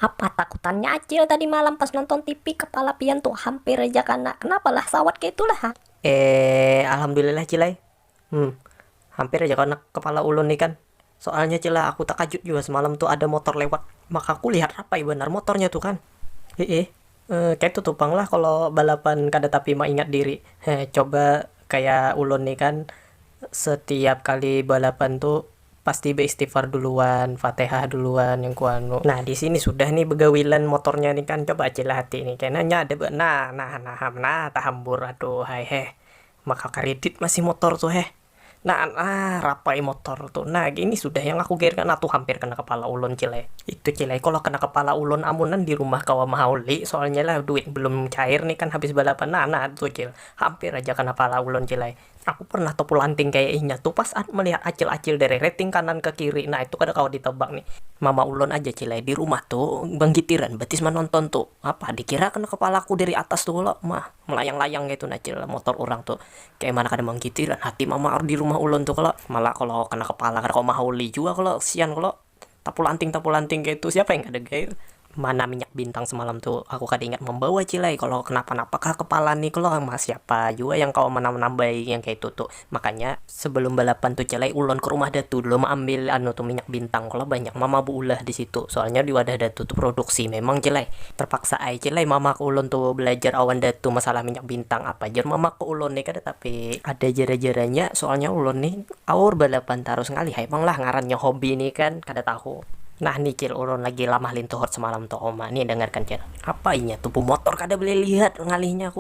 Apa takutannya Acil tadi malam pas nonton tipi kepala pian tu hampir haja kana, kenapa lah sawat kaitu lah ha. Eee alhamdulillah Cil ai, Hum, hampir aja kena kepala ulun ikam, soalnya cil lah aku takajut jua semalam tu ada motor lewat, maka ku lihat rapai banar motornya tu kan, hiih, kaitu tu pang lah kalo balapan kada tapi maingat diri, he coba kaya ulun ni kan setiap kali balapan tu pasti beistighfar duluan, fatihah duluan yang ku anu, nah disini sudah ni begawilan motornya ni kan coba cil lah hati ni kena nya ada be nah nah nah tahambur aduhai heh, Maka kredit masih motor tu heh. Nah nah rapai motor tu nah gini sudah yang aku gairkan nah tu hampir kena kepala ulun cil ai. Itu cil ai kalo kena kepala ulun amunan di rumah kawa mahaul li soalnya lah duit belum cair ni kan habis balapan nah nah tu cil hampir aja kena kepala ulun cil ai. Aku pernah tepulanting kaya inya tu pas an melihat acil acil derereting kanan ke kiri nah itu kada kawa di tebak ni. Mama ulun aja cil ai di rumah tu banggitiran batis manonton tu apa dikira kena kepalaku dari atas tu kalo mah. Melayang-layang kaytu nah cil motor urang tu, kaya mana kada mangkiti lah hati mamaar di rumah ulun tu kalo, malah kalo kena kepala kada kawa mahauli jua kalo, kesian kalo, tapulanting-tapulanting kaytu siapa yang kada gair. Mana minyak bintang semalam tu aku kada ingat mambawa cil ai, kalo kenapa-napa kah kepala ni kalo, siapa jua yang kawa manambai yang kaytu tu, Makanya sebelum balapan tu ja lay ulon ke rumah datu dulu maambil anu tu minyak bintang kalo banyak mama beulah disitu soalnya di wadah datu tu produksi memang ja lay terpaksa ai ja lay mama ke ulon tu belajar awan datu masalah minyak bintang apa jar mama ke ulon ni kada tapi ada jara jaranya soalnya ulon ni aur balapan tarus ngalih ai pang lah ngarannya hobi ni kan kada tahu nah ni cil ulon lagi lamah lintuhut semalam tu uma ni dengarkan cil apa inya tu bumotor kada boleh lihat ngalihnya aku.